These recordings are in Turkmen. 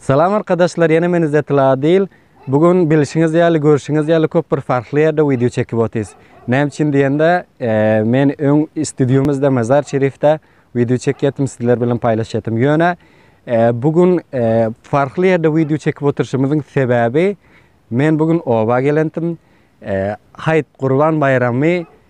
Salam arkadaşlar ýene men Izzetil Adil. Bu gün bilişiňiz ýaly, görşüňiz ýaly köp bir farkly ýerde wideo çekip otyrys. Näme üçin diýende, men öň studiýamyzda Mazar Şerifde wideo çekýärdim, sizler bilen paýlaşýardym. Ýöne bu gün farkly ýerde wideo çekip oturyşymyzyň sebäbi men bu gün oba gelendim. Haýt Gurban baýramy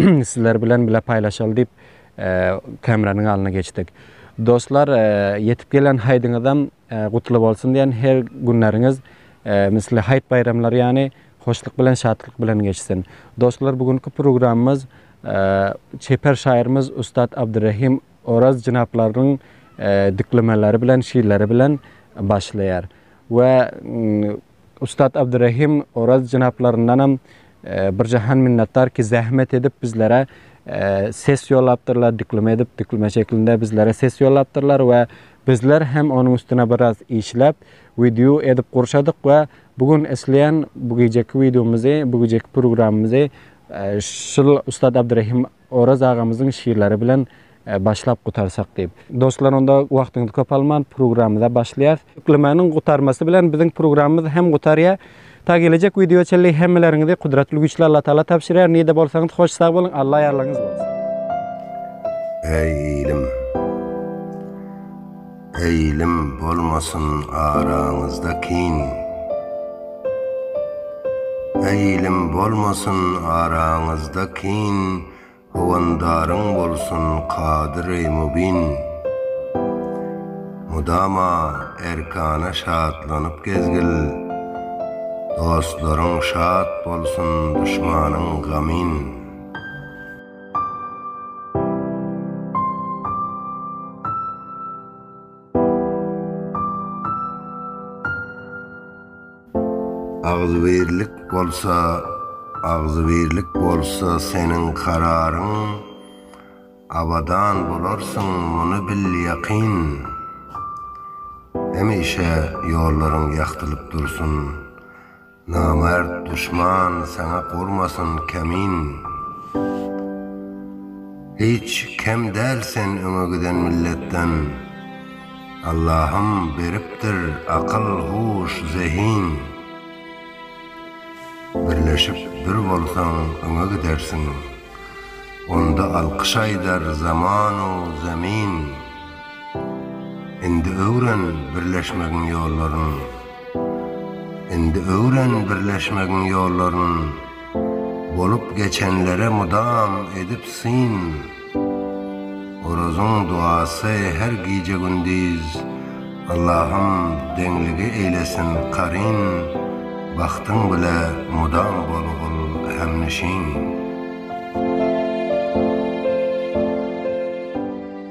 sizler bilen bile paýlaşaly diýip kameranyň alnyna geçdik. Dostlar, ýetip gelen haýdyňyzam gutly bolsun diýen her günleriňiz misli haýt baýramlary ýany hoşluk bilen, şatlyk bilen geçsin. Dostlar, bu günki programmyz çeper şaýyrymyz ussat Abdyrahim Oraz jynaplarynyň diklemeleri bilen, şiirleri bilen başlaýar. We Ussat Abdurahim Oraz jenaplaryndanam bir jahan minnetdar ki zähmet edip bizlere ses ýollapdyrlar, diklime edip, diklime şeklinde bizlere ses ýollapdyrlar we bizler hem onuň üstüne biraz işläp, wideo edip gurşadyk we bu gün isleýän bu gijeki wideomyzy, bu gijeki programmyzy şul Ussat Abdurahim Oraz agamyzyň şirleri bilen başlap gutarsak diýip. Dostlar onda wagtyňyzy köp alman programmyza başlaýas. Ýüklemäniň gutarmasy bilen biziň programmyz hem gutarýar. Ta gelejek wideoa çenli hemmeleriňizi Kudratly Güýçli Alla Taala tabşyrýar. Nirde bolsaňyz hoş sag boluň. Alla ýarlaryňyz bolsun. Äý ilim! Eýilim bolmasyn araňyzda kin. Eýilim bolmasyn araňyzda kin, Howandaryň bolsun kadyry mubin. Mudama erkana şatlanyp gezgil, Dostlaryň şat bolsun duşmanyň gamin. Agzybirlik bolsa agzybirlik bolsa seniň kararyň Abadan bolarsyň muny bil ýakyn Hemişe ýollaryň ýagtylyp dursun. Namert duşman saňa gurmasyn kemin Hiç kem däl sen öňe giden milletden Allahym beripdir akyl huş zehin Birleşip bir bolsaň öňe gidersiň Onda alkyş aýdar zamanu zemin Indi öwren birleşmegiň ýollaryn. Indi öwren birleşmegiň ýollaryn Bolup geçenlere mydam edip syn Orazyň duasy her gije gündiz Allahym deňligi eýlesin karyn Bagtyň bile mydam bol gul hemnişin.